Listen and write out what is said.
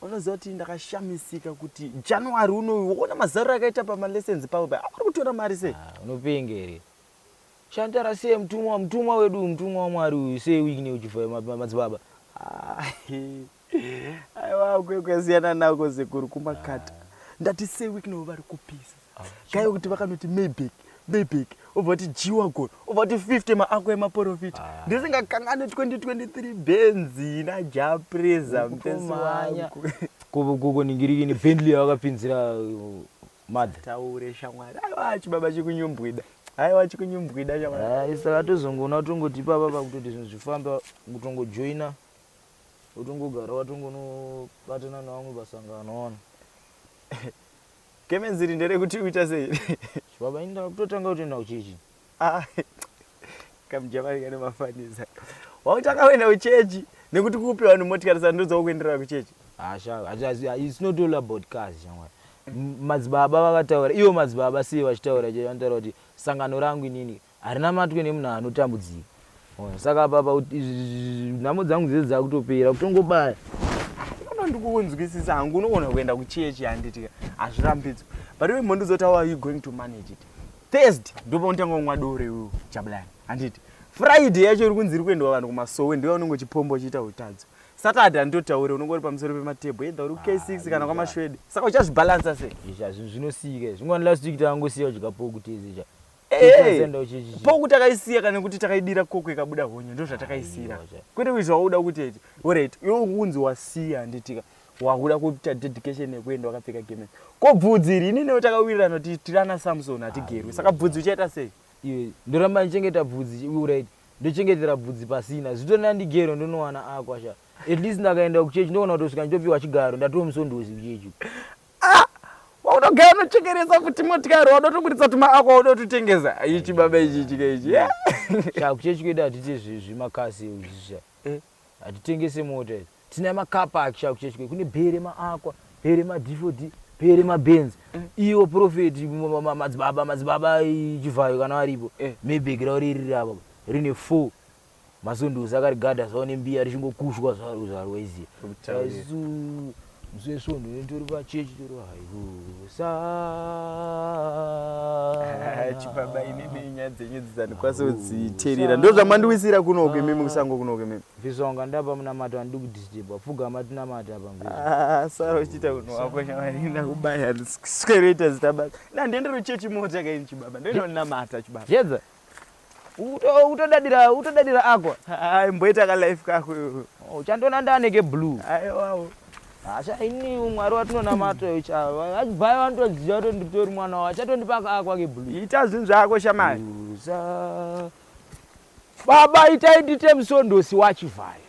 Wakaziva kuti ndakashamisika kuti January unoyu wona mazariro akaita pama lessons pavo paya avari kutora mari sei? Ah, unopenga here? Shantara sei mutumwa mutumwa wedu uyu mutumwa waMwari uyu sei uine uchifa ma- ma- madzibaba? Ah, Aiwa kwekwe siyana nako sekuru kumakata. Ndati sei week no vari kupisa. gaiwe kuti vakanoti mayback mayback obva kuti jiwagon obva kuti 50 maako emaporofita ah. ndisingakangani 2023 benzi najapreza mtomanya kuningirikini bentley yavakapinzira uh, mother taure shamwari aiwa chibaba chikunyumbwida aiwa chikunyumbwida shamwari ah, isa vatozongoona tongoti ipapa pakutoti zvinhu zvifamba kutongojoina utongogara watongonobatana navamwe pasangano ona Gemenzi iri nderekuti uita sei? Chibaba ini ndakutotanga kutoenda kuchechi. Ah, kamujamani kane mafanisa. Wautanga kuenda kuchechi nekuti kupi vanhu motikari saka ndodzawo kuenderera kuchechi. Ah, shava, as- as- as- it's not all about cars shamwari. M- Madzibaba vakataura, ivo madzibaba sei vachitaura chete vanotaura kuti sangano rangu inini Harinamatwe nemunhu anotambudzika. Saka apa apa nhamo dzangu dzese dzakutopera kutongobaya. Kana ndikukunzwisisa hangu unogona kuenda kuchechi handiti hazvirambidzwe. But iwe mhonduzoti how are you going to manage it? Thursday ndipo unotanga kumwa doro iwe Jabulani handiti? Friday yacho iri kunzi iri kuendwa vanhu kumasowe ndiwe unenge uchipomba uchiita utadzo. Saturday handitotaure unenge uri pamusoro pematable either uri K6 kana kwamashwede. Saka uchazvibalancer sei? Izvi hazvi zvinosika izvi. Ngwani last week takangosiya kudya pork tese chaiyo. poku takaisiya kana kuti takaidira koko ikabuda honye ndozvatakaisira kwete kuizva wauda kuti eti orit iwe unzi wasiya handitika wakuda kuita dedication yekuenda wakapfeka gemen ko bvudzi iri ini newe takawirirana kuti tirana samson hatigerwi saka bvudzi uchaita sei iwe ndoramba ndichengeta bvudzi orit ndochengetera bvudzi pasina zvito ndandigero ndonowana akwasha at least ndakaenda kuchechi ndoona kutosvika nditopiwa chigaro ndatomusondosi kuchechi Ah! Waunogara unochekeresa futi motikari wauda kutoburitsa tuma ako wauda kutotengesa. Ichi baba ichi chika ichi. Yeah. Sha kuchechi kwedu hatite zvi- zvimakasi zvisha. Eh. Hatitengese mota idzi. Tina makapa aki sha kuchechi kwedu. Kune bhere maakwa, bhere madifodi, bhere mabenzi. Iwo profeti ma- ma- ma- madzibaba madzibaba eh, chivhayo kana varipo. Eh. Maybe gira uri riri apa. Rine 4. Mazunduzi akarigada zvavo nembiya richingokushwa zvaro zvaro waiziva. Mzee Svondo nditori pachechi tori haiusa. Chipaba ini nenyaya dzenyu dzizanikwaso dziterira. Ndozvamandiwisira kuno uko imimi kusango kuno uko imimi. Visonga ndapa munamato andidi kudisturba. Pfugama tinamata apa mvisa. Ah, sara uchiita kuno wako shamari ndakubaya. Sikeroita zita basa. Ndandiendero chechi mota kaini chibaba. Ndinonamata chibaba. Yedza. Utodadira utodadira agwa. Ah, imboita ka life kako iwe. Oh, uchandiona ndane ke blue. Aiwawo. Asha ini umwari watinonamata uyu chava. Vachibvayo vanotoziva kuti nditori mwana wavo. Achatondipa ka agwa ke blue. Ita zvinhu zvako shamari. Uza. Baba itai ndite musondosi wachivhayo.